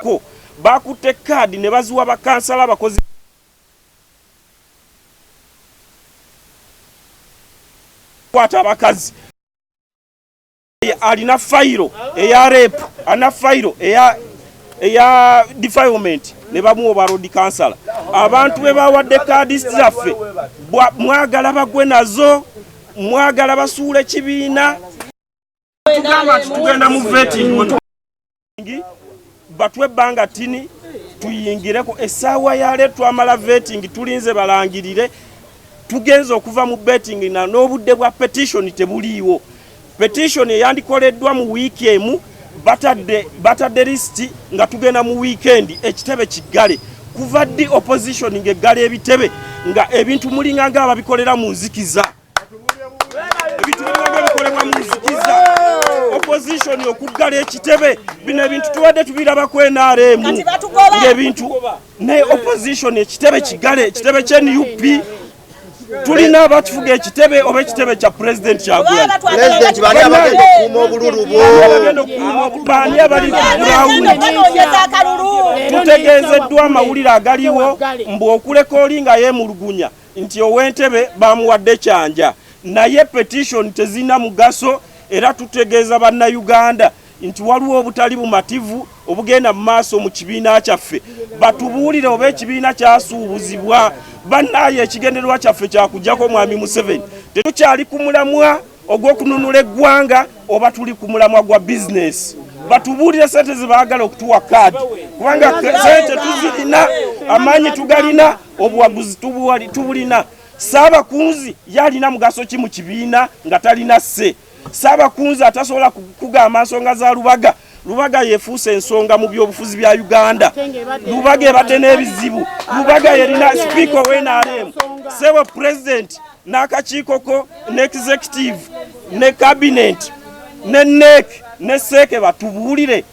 ko bakutte kaadi ne baziwa bakansala abakozi kwata abakazi alina fayiro eya repu alina fayiro eya eya defilement ne bamuwa oba road kansala abantu be bawadde kaadi zaffe mwagala bagwe nazo mwagala basuula ekibiina tugenda mu vetting batwe ebbanga tini tuyingireko essaawa yale twamala vetting tulinze balangirire tugenze okuva mu betting na n'obudde bwa petition tebuliiwo petition eyandikoleddwa mu wiiki emu batadde batadde lisiti nga tugenda mu wiikendi ekitebe kiggale kuva ddi opposition ng'eggala ebitebe nga ebintu mulinga nga ababikolera mu nzikiza ebintu bibanga bikolebwa mu nzikiza opposition okuggala ekitebe bino ebintu tubadde tubirabako nrm ngaebintu naye opposition ekitebe kigale ekitebe kya nup tulina abatufuga ekitebe oba ekitebe kya pulezidenti kyagulaani abali tutegeezeddwa amawulire agaliwo mbu okuleka oli nga yemulugunya nti ow'entebe bamuwadde kyanja naye petition tezirina mugaso era tutegeeza bannayuganda nti waliwo obutali bumativu obugenda mu maaso mu kibiina kyaffe batubuulire oba ekibiina kyasuubuzibwa bannaayo ekigendererwa kyaffe kyakugyako mwami museveni tetukyali ku mulamwa ogw'okununula eggwanga oba tuli ku mulamwa gwa bizinesi batubuulire sente zebaagala okutuwa kaadi kubanga sente tuzirina amaanyi tugalina obuwaguzi tubulina. Ssaabakunzi ye alina mugaso ki mu kibiina nga talina sse? Ssaabakunzi atasobola kugamba nsonga za Lubaga. Lubaga yefuuse ensonga mu byobufuzi bya Uganda. Lubaga ebadde n'ebizibu. Lubaga yerina sipiika owe NRM. Sebo pulezidenti n'akakiikoko ne executive ne kabineeti ne neek ne seeke batubuulire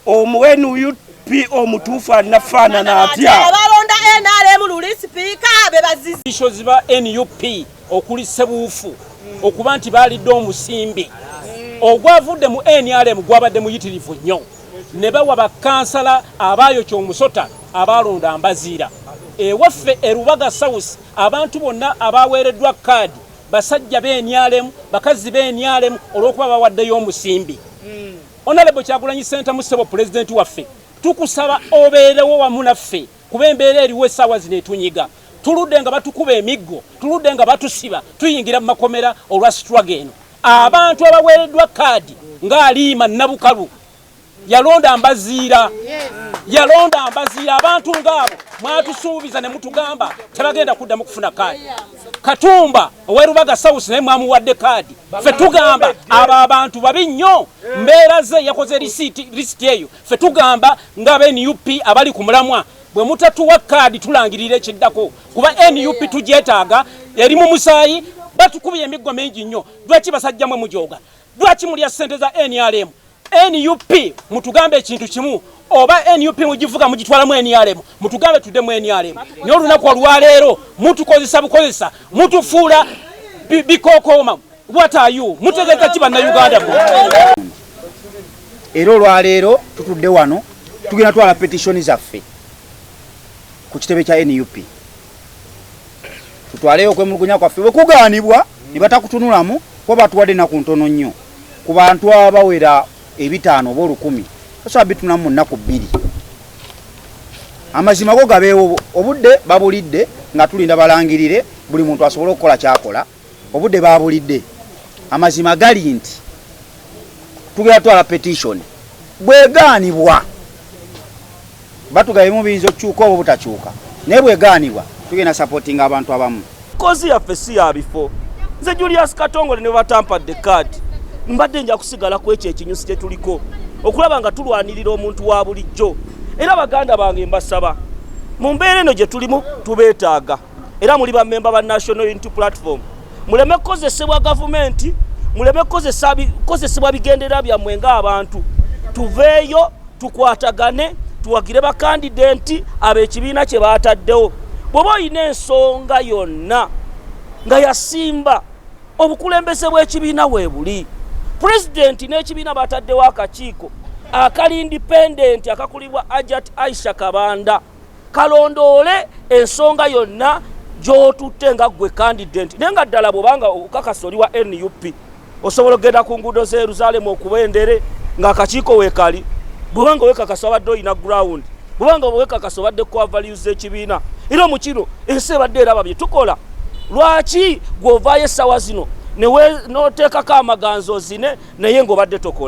omuwenuut DP omutuufu alina faanana atya? Abalonda NRM luli sipiika be bazizi. Bisho ziba NUP okuli Sebuufu okuba nti baalidde omusimbi ogwavudde mu NRM gwabadde muyitirivu nnyo ne bawa bakansala abaayo ky'omusota abaalonda mbaziira. Ewaffe e Rubaga South abantu bonna abaaweereddwa kaadi basajja b'enyalemu bakazi b'enyalemu olw'okuba bawaddeyo omusimbi. Hmm. Honorable Kyagulanyi Ssentamu Ssebo Pulezidenti waffe tukusaba obeerewo wamu naffe kuba embeera eriwo essaawa zino etunyiga tuludde nga batukuba emiggo tuludde nga batusiba tuyingira mu makomera olwa sitwaga eno abantu abaweereddwa kaadi ng'aliima nabukalu yalonda mbaziira yalonda mbaziira abantu ng'abo mwatusuubiza ne mutugamba tebagenda kuddamu kufuna kaadi Katumba owe Rubaga South naye mwamuwadde kaadi. Ffe tugamba abo abantu babi nnyo, mbeera ze yakoze lisiti eyo. Ffe tugamba nga be NUP abali ku mulamwa bwe mutatuwa kaadi tulangirira ekiddako kuba NUP tugyetaaga eri mu musaayi batukubye emiggo mingi nnyo lwaki basajjamwe mujooga Lwaki mulya ssente za NRM? NUP mutugambe ekintu kimu oba NUP mugivuga mugitwalamu NRM mutugambe tudde mu NRM naye olunaku olwaleero mutukozesa bukozesa mutufuula bikokooma watayu mutegeeza ki bannayuganda mu era olwaleero tutudde wano tugenda twala petitioni zaffe ku kitebe kya NUP tutwaleyo okwemulugunya kwaffe bwe kugaanibwa ne batakutunulamu kuba batuwadde ennaku ntono nnyo ku bantu abawera ebitaano oba olukumi osobola bitunulamu mu nnaku bbiri amazima go gabeewo obudde babulidde nga tulinda balangirire buli muntu asobole okukola kyakola Obudde baabulidde. Amazima gali nti tugenda twala petishoni bwegaanibwa batugabemu biyinza okukyuka oba obutakyuka naye bwegaanibwa tugenda sapotinga abantu abamu kozi yaffe si ya bifo nze julius katongole ne batampadde kaadi mbadde nja kusigala ku ekyo ekinyusi kye tuliko okulaba nga tulwanirira omuntu wa bulijjo era baganda bange mbasaba mu mbeera eno gye tulimu tubeetaaga era muli bamemba ba national unity platform muleme kukozesebwa gavumenti muleme kukozesebwa bigendera byammwe ng'abantu tuveeyo tukwatagane tuwagire bakandidenti ab'ekibiina kye baataddewo bw'oba olina ensonga yonna nga yasimba obukulembeze bw'ekibiina weebuli pulezidenti n'ekibiina baataddewo akakiiko akali indipendenti akakulibwa ajat aisha kabanda kalondoole ensonga yonna gyotutte nga gwe candident naye nga ddala bwobanga okakasa oli wa nup osobola okugenda ku nguudo za yerusaalemu okuba endere ng'akakiiko weekali bwobanga owekakasa obadde olina ground bwobanga owekakasa obadde kuavalues ekibiina era mu kino ensi ebadde eraba bye tukola lwaki gweovaayo essaawa zino noteekako amaganzi ozine naye ngaobadde tokola